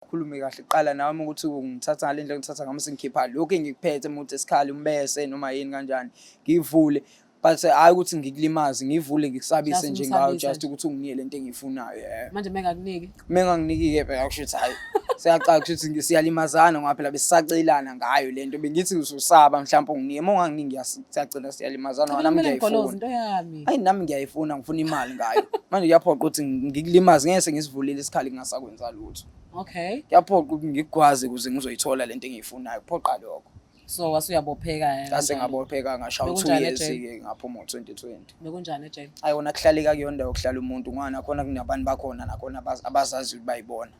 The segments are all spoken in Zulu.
khulume kahle kuqala nami ukuthi ngithatha ngale ndlela ngithatha ngami sengikhipha lokhu engikuphethe muthi esikhali umbese noma yini kanjani ngivule but hayi ukuthi ngikulimaze ngivule ngikusabise nje ngayo just ukuthi unginike lento engiyifunayo yeah manje mengakuniki mengakuniki ke phela kusho ukuthi hayi siyaqala kusho ukuthi siyalimazana ngoba phela besisacelana ngayo lento bengithi usaba mhlawumbe unginike uma unganginiki ngiyasacela siyalimazana ngoba nami ngiyayifuna hayi nami ngiyayifuna ngifuna imali ngayo manje kuyaphoqa ukuthi ngikulimaze ngeke sengisivulile isikhali ngingasakwenza lutho futhi okay kuyaphoqa ukuthi ngigwaze ukuze ngizoyithola lento engiyifunayo kuphoqa lokho so wasuyabopheka yena ngase ngabopheka ngasha u2 years ke ngaphuma ngo2020 bekunjani ejele ayona kuhlaleka kuyona ndawo kuhlala umuntu ngwana khona kunabantu bakhona nakhona abazazi ukuthi bayibona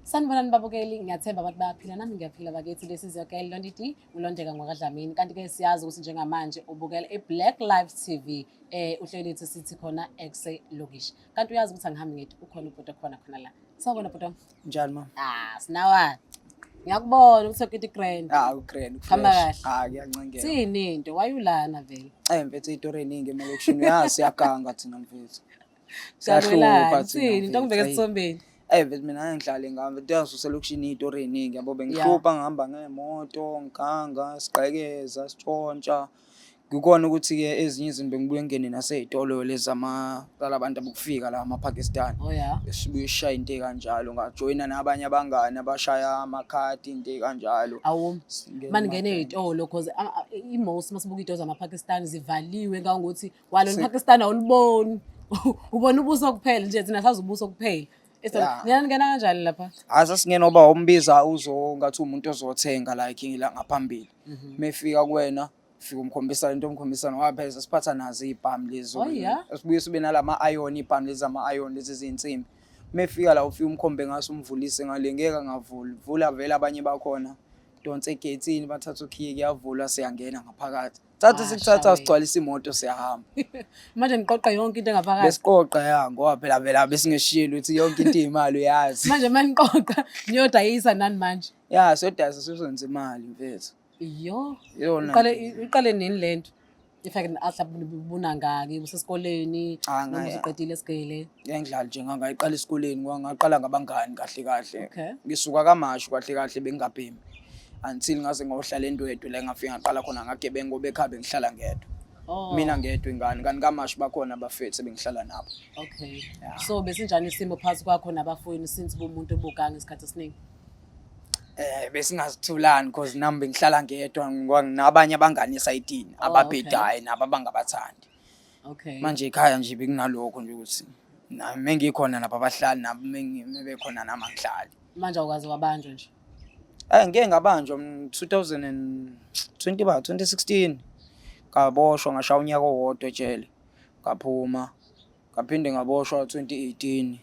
Sanibonani babukeli, ngiyathemba abantu bayaphila nami ngiyaphila bakithi. This is your girl Londi D, ulondeka ngwakadlamini. Kanti ke siyazi ukuthi njengamanje ubukela iBlack Life TV eh uhleli ethi sithi khona exe lokish. Kanti uyazi ukuthi angihambi ngithi ukhona ubhuti khona khona la. Sawubona bhuti. Njani ma? Ah, sinawa. Ngiyakubona ukuthi ukiti grand. Ah, ugrand. Hamba kahle. Ah, ngiyancengela. Sini into wayulana vele. Eh mfethu itori eningi emalokishini. Yazi siyaganga thina mfethu. Siyahlupha thina. Into ngibeke esisombeni. Ey vele mina ngangidlale ngami ngiyazi uselokishini iyitori eyiningi yabo bengihlupha ngihamba ngemoto ngiganga sigqekeza sitshontsha ngikona ukuthi ke ezinye izinto bengibuye ngene naseyitolo lezama zalabantu abokufika la amaPakistan oh, sibuye sishaye into kanjalo ngajoyina nabanye abangani abashaya amakhadi into kanjalo maningene eyitolo because imosi masibuka iyitolo zamaPakistan zivaliwe kangokuthi walo Si- lipakistan awuliboni ubona ubuso kuphela nje thina sazi ubuso kuphela Yeah. nina ningena kanjani lapha hayi sasingena uba umbiza uzo ngathi umuntu ozothenga like ngila ngaphambili Mhm. mefika kuwena fika umkhombisa into omkhombisa nowapheza siphatha nazo iy'bhamu lezi Oh, yeah? sibuye sibe nalama ayoni ibhamu lezi ama ayoni lezi zinsimbi mefika la ufike umkhombe ngaso umvulise ngale ngeke angavuli vula vele abanye bakhona donse egethini bathatha ukhiye kuyavulwa siyangena ngaphakathi thatha sikuthatha sigcwalisa imoto siyahamba manje niqoqa yonke into engaphakathi besiqoqa ya ngoba phela vela besingeshiyeli ukuthi yonke into imali uyazi manje manje niqoqa niyodayisa nani manje ya sodayisa sizonza imali mfethu iyo yona uqale uqale nini lento if i can ask ubuna ngaki usesikoleni ah, noma usuqedile esigele ngiyangidlala nje ngangayiqala esikoleni ngangaqala ngabangani kahle kahle ngisuka kamashu kahle kahle bengingabhemi until ngaze ngohlala endwedwe la ngafika ngaqala khona ngagebengu ngoba ekhaya bengihlala ngedwa Oh. mina ngedwa ingane kanti kamashi bakhona abafethu ebengihlala nabo Okay. Yeah. So besinjani isimo phansi kwakho nabafowenu since bumuntu obuganga isikhathi esiningi? eh besingazithulani because nami bengihlala ngedwa ngoba nginabanye abangani esayitini Oh, ababhedayo nabo abangabathandi Okay. manje ekhaya nje bekunalokho nje ukuthi nami mengikhona nabo abahlali nabo mengi- mebekhona nami angihlali manje awukaze wabanjwa nje. Eh ngeke ngabanjwa 2020 ba 2016 ngaboshwa ngashaya unyaka owodwa ejele ngaphuma ngaphinde ngaboshwa 2018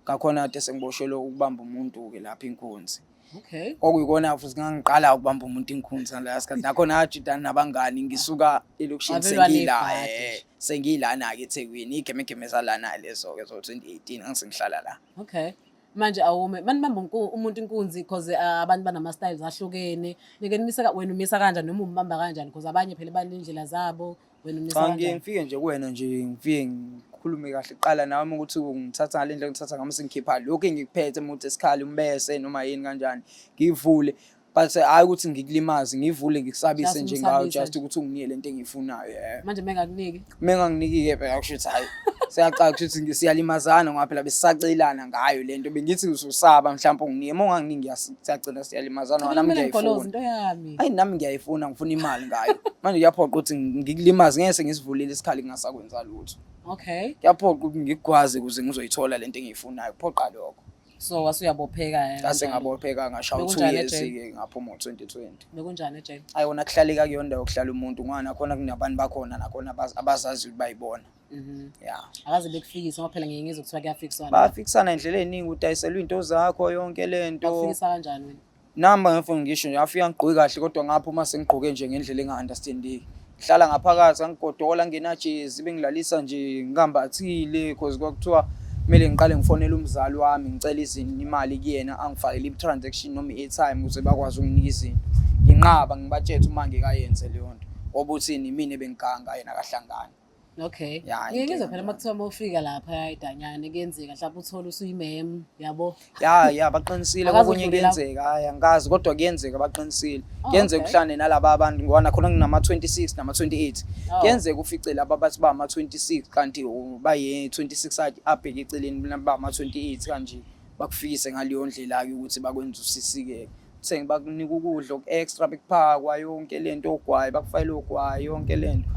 ngakhona kade sengiboshelwe ukubamba umuntu ke lapha inkunzi okay okuyikona futhi ngangiqala ukubamba umuntu inkunzi la sikhathi nakho najidana nabangani ngisuka elokishini sengila eh, sengilana ke eThekwini igemegeme zalana lezo ke zo 2018 ngisengihlala la okay manje awume mani bamba unku- umuntu inkunzi because ah, abantu banama-styles ahlukene nike nimisa ka- wena umisa kanjani noma umbamba kanjani because abanye phela baney'ndlela zabo wena umisa cha ngike kanjani ngifike nje kuwena nje ngifike ngikhulume kahle kuqala nami ukuthi ungithatha ngale ndlela ngithatha ngami sengikhipha lokhu engikuphethe muthi esikhali umbese noma yini kanjani ngivule but hayi ukuthi ngikulimaze ngivule ngikusabise Just nje ngayo umsabise. just ukuthi unginike lento engiyifunayo yeah manje mengakuniki menganginiki-ke phela kusho ukuthi hhayi siyaqala kusho ukuthi ngi- siyalimazana ngoba phela besisacelana ngayo le nto bengithi uzosaba mhlawumpe unginike uma unganginiki ngiyas- siyagcina siyalimazana ngoba nami kumele ngigoloze ngiyayifuna into yami ayi nami ngiyayifuna ngifuna imali ngayo manje kuyaphoqa ukuthi ngi- ngikulimaze ngeke sengisivulile isikhali ngingasakwenza lutho okay kuyaphoqa ukuthi ngikugwaze ukuze ngizoyithola le nto engiyifunayo kuphoqa lokho so wasuyabopheka eh, ngase kanjalo. ngabopheka ngashaya u2 Bekunjani years ejele? ke ngaphuma ngo2020 bekunjani ejele ayona kuhlaleka kuyona ndawo kuhlala umuntu ngoba nakhona kunabantu bakhona nakhona abaz- abazazi ukuthi bayibona Mhm. ya akaze bekufikise ngoba phela ngiye ngizwe kuthiwa kuyafikiswana bafikisana indlela eningi udayiselwa into zakho yonke lento bakufikisa kanjani wena Namba ngefoni ngisho nje afika ngigqoke kahle kodwa ngapha uma sengigqoke nje ngendlela enga-understandeki ngihlala ngaphakathi angigodola ngenajezi bengilalisa nje ngikambathile cause kwakuthiwa kumele ngiqale ngifonele umzali wami ngicela izinto imali kuyena angifakele i-transaction noma i-airtime ukuze bakwazi ukunginika izinto nginqaba ngibatshethe uma ngekayenze leyo nto obuthini mina ebengiganga yena kahlangani Okay. Yeah, Ngeke ngizwe phela makuthiwa uma ufika lapha idanyane kuyenzeka mhlawumbe uthole usuyimem yabo. Ya ya baqinisile Akazi kokunye udlule lapho. kuyenzeka hayi angikazi kodwa kuyenzeka baqinisile. Oh, Kuyenzeka okay. uhlane nalaba abantu ngoba nakhona kunama 26 nama 28. Oh. Kuyenzeka ufice laba bathi ba ama 26 kanti u- baye 26 athi abheke eceleni mina ba ama 28 kanje bakufikise ngaleyo ndlela ke ukuthi bakwenza usisikeke. Seng bakunika ukudla oku extra bekuphakwa yonke lento ogwayi bakufayile ogwayi yonke lento.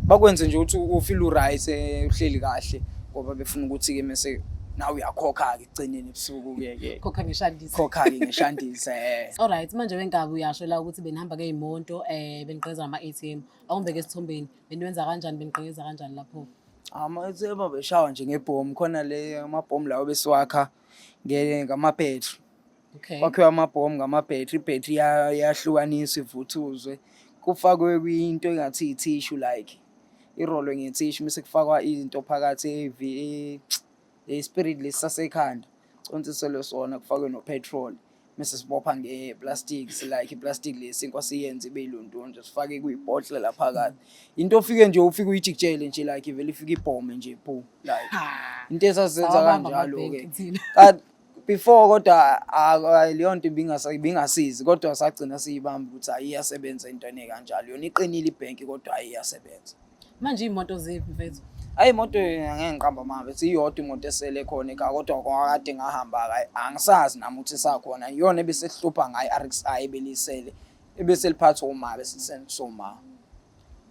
Bakwenze nje ukuthi u feel u right eh, uhleli kahle ngoba befuna ukuthi ke mase nawe uyakhokha ke ekugcineni ebusuku ke ke. Khokha ngeshandisa. Khokha ke ngeshandisa eh. Alright manje wengabe uyasho la ukuthi benihamba ngeyimoto eh benigqeza ama ATM. Awumbeke esithombeni. Beniwenza kanjani benigqeza kanjani lapho? Ama ATM beshawa nje ngebhomu khona le amabhomu lawo besiwakha ngama battery. Okay. Kwakhiwa amabhomu ngama-battery, i-battery ya- yahlukaniswa ivuthuzwe. Kufakwe kwinto engathi i-tissue like. Irolwe nge-tissue bese kufakwa izinto phakathi evi- e- e-spirit lesi sasekhanda. Consiselwe sona kufakwe no-petrol. Mese sibopha nge-plastic si- like i-plastic lesi inkwa siyenze ibe ilondonje sifake kuyibhodlela phakathi. Into ofike nje ufike uyijikijele nje like ivele ifike ibhome nje phu like. Ha. Into esazenza Sawabamba kanjalo-ke. amabhenki thina. Ka- before kodwa ah, leyo nto ibingasizi kodwa sagcina siyibamba ukuthi hayi iyasebenza into enekanjalo yona iqinile ibhenki kodwa hayi iyasebenza manje iy'moto ziphi mfethu ayi imoto ngeke ngiqamba mama bethi iyodwa imoto esele khona ekhaya kodwa kwakade ngahamba kayi angisazi nami ukuthi isakhona iyona ebesesihlupha ngayo i-rxi ebelisele ebeseliphathwa uma besisenzisa uma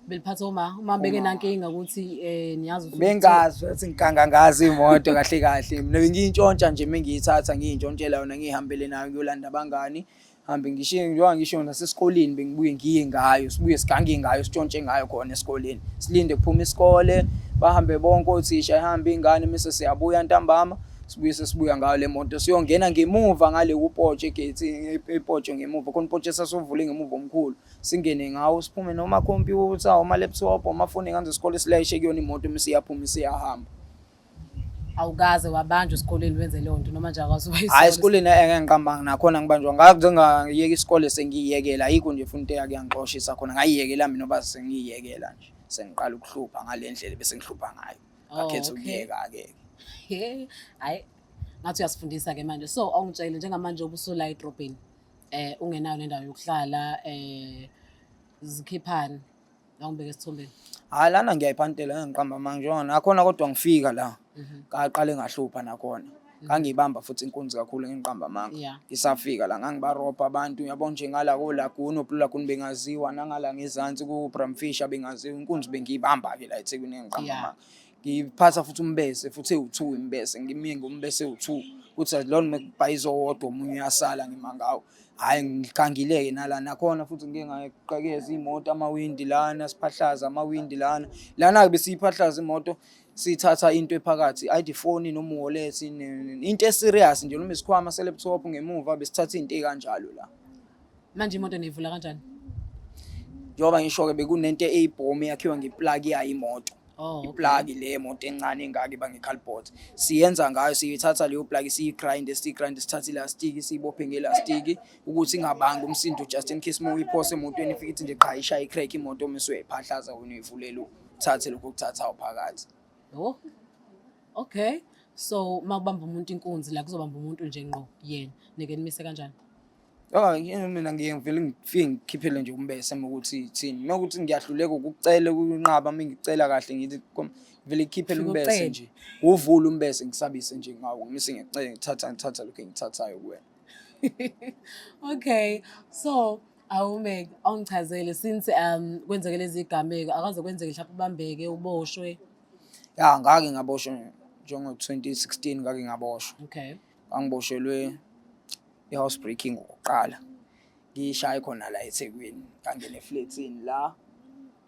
beliphatha uma uma beke nankinga ukuthi eh niyazi ukuthi bengazi ukuthi ngikangangazi imoto kahle kahle mina bengiyintshontsha nje mengiyithatha ngiyintshontshela yona ngihambele nayo ngiyolanda abangani hambe ngishiye ngiyowa ngisho nasesikoleni bengibuye ngiye ngayo sibuye sigange ngayo sitshontshe ngayo khona esikoleni silinde kuphuma isikole bahambe bonke othisha ihambe ingane mise siyabuya ntambama sibuye sesibuya ngayo le moto siyongena ngemuva ngale kupotshe egate ipotshe ngemuva khona ipotshe sasovule ngemuva omkhulu singene ngawo siphume noma computer oma laptop oma phone kanze isikole silayishe kuyona imoto uma siyaphuma siyahamba awukaze wabanjwa esikoleni wenze leyo nto noma nje akaze wayisona hayi esikoleni engeke ngiqambanga nakhona ngibanjwa ngakuze ngayeka isikole sengiyiyekela ayikho nje futhi into eyakuyangixoshisa khona ngayiyekela mina oba sengiyiyekela nje sengiqala ukuhlupha ngale ndlela bese ngihlupha ngayo oh, ngakhetha ukuyeka-ke hayi ngathi uyasifundisa-ke manje so awungitshele njengamanje obusola edrobheni eh ungenayo nendawo yokuhlala eh zikhiphani la ngibeke esithombeni hayi lana ngiyayiphantela ngiqamba manje njengoba nakhona kodwa ngifika la Mhm. ngaqale ngahlupha nakhona ngangiyibamba futhi inkunzi kakhulu ngingiqamba amanga Yeah. ngisafika la ngangibarobha abantu uyabo nje ngala kolaguni oplulaguni bengaziwa nangala ngezansi ku-bramfish abengaziwa inkunzi bengiyibamba-ke la ethekwini engiqamba Yeah. amanga ngiphatha futhi umbese futhi ewu-two imbese ngimye ngombese ewu-two kuthi azilona uma kubhayiza owodwa omunye uyasala ngima ngawo hhayi ngigangile-ke nala nakhona futhi ngike ngaqakeza iy'moto amawindi lana siphahlaza amawindi lana lana-ke besiyiphahlaza imoto sithatha into ephakathi ayide ifoni noma uwallet into eserious nje noma isikhwama se-laptop ngemuva besithatha iy'nto ey'kanjalo la manje imoto niyivula kanjani njengoba ngisho-ke bekunento eyibhomu eyakhiwa ngeplaki yayo imoto Oh, okay. iplaki le moto encane engaka iba ngecalbot siyenza ngayo siyithatha leyo plaki siyigrinde siyigrinde sithathe ilastiki siyibophe ngelastiki ukuthi ingabanga umsindo just in case uma uyiphose emotweni ifike ithi nje qha ishaye icrack imoto uma usuyayiphahlaza wena uyivulela uthathe lokho okuthathayo phakathi Oh. Okay. So makubamba umuntu inkunzi la kuzobamba umuntu nje ngqo yena. Nike nimise kanjani? Oh, yini mina ngiye ngivele ngifike ngikhiphele nje umbese uma ukuthi thini. Uma ukuthi ngiyahluleka ukucela ukunqaba uma ngicela kahle ngithi kom- ngivele ngikhiphele Ngicela. umbese nje. Uvule umbese ngisabise nje ngawo. Ngise ngicela ngithatha ngithatha lokho engithathayo kuwena. Okay. So awume awungichazele since um kwenzeke lezi gameko akaze kwenzeke mhlawumbe ubambeke uboshwe. Ya ngake ngaboshwa njengo 2016 ngake ngaboshwa. Okay. Angiboshelwe i-house breaking ngokuqala ngishaye khona la eThekwini ngangena efletini la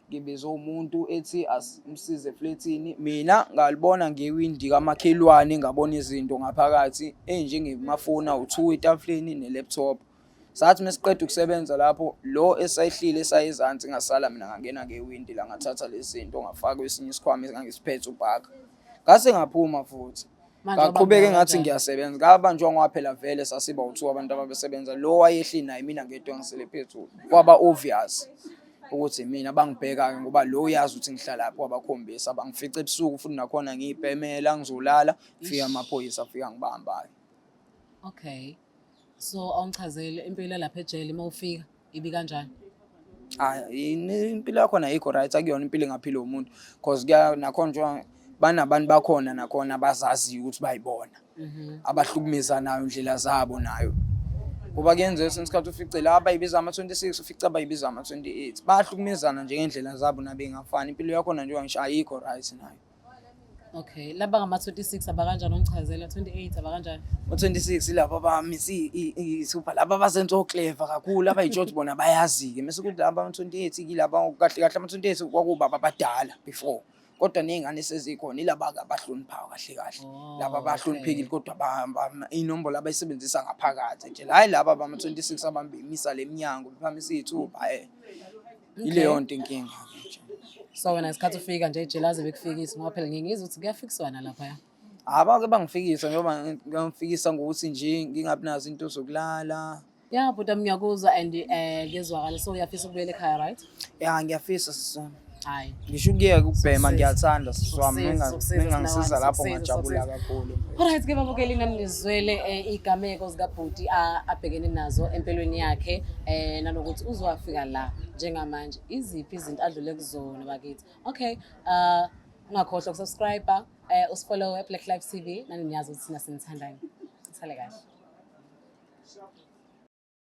ngibize umuntu ethi asimsize efletini mina ngalibona ngewindi kamakhelwane ngabona izinto ngaphakathi enjengemafoni awu-two etafuleni ne-laptop sathi mesiqeda ukusebenza lapho lo esayihlile esayezansi ngasala mina ngangena ngewindi la ngathatha lezi zinto ngafaka kwesinye isikhwama engangisiphethe ubhaka ngase ngaphuma futhi Manje ngaqhubeka wabanjwa engathi kanjani? ngiyasebenza ngabanjwa ngoba phela vele sasiba uthiwa abantu ababesebenza lo wayehli naye mina ngedwa ngisele phezulu kwaba obvious ukuthi mina bangibheka-ke ngoba lo uyazi ukuthi ngihlalaphi wabakhombisa bangifica ebusuku futhi nakhona ngiyibhemela ngizolala fika amaphoyisa afika ngibamba-ke Okay. so awungichazele impilo lapha ejele uma ufika ibi kanjani hayi impilo yakhona ayikho right akuyona impilo engaphila umuntu because kuya nakhona njengoba banabantu bakhona nakhona abazaziyo ukuthi bayibona mhm. abahlukumeza nayo indlela zabo nayo ngoba kuyenzeka esinye isikhathi ufice la abayibiza ama-26 ufice abayibiza ama-28 bayahlukumezana njengendlela zabo nabengafani impilo yakhona njengoba ngisho ayikho right nayo Okay, laba ngama 26 abakanjani ongichazela 28 abakanjani? Ngo 26 ilaba bami si isupha laba basenzo clever kakhulu abayijot bona bayazi ke mase kuthi laba 28 ilaba kahle kahle ama 28 kwakuba abadala before kodwa nezingane sezikhona ilaba abahloniphayo kahle kahle oh, laba abahloniphekile kodwa inombolo abayisebenzisa ngaphakathi nje hayi laba abama 26 abambimisa lemnyango bephamisa izithuba eh ileyo nto inkinga nje so wena ngesikhathi ufika nje ijele aze bekufikise ngoba phela ngingizwa ukuthi kuyafikiswana laphaya abake bangifikisa njengoba ngifikisa ngokuthi nje ngingabi nazo into zokulala ya bhuti ami ngiyakuzwa and um ngezwakala so uyafisa ukubuyela ekhaya right ya ngiyafisa sisona hhayi ngisho ukuyeka ukubhema ngiyathanda sisi wami mengangisiza lapho ngajabula kakhulu Alright ke babukeli nami ngizwele eh, igameko zikabhuti a- abhekene nazo empilweni yakhe eh nanokuthi uzowafika la njengamanje iziphi izinto adlule kuzona bakithi okay uh ungakhohlwa ukusubscribe eh usifollow eBlack Life TV nani niyazi ukuthi thina sinithandani sale kahle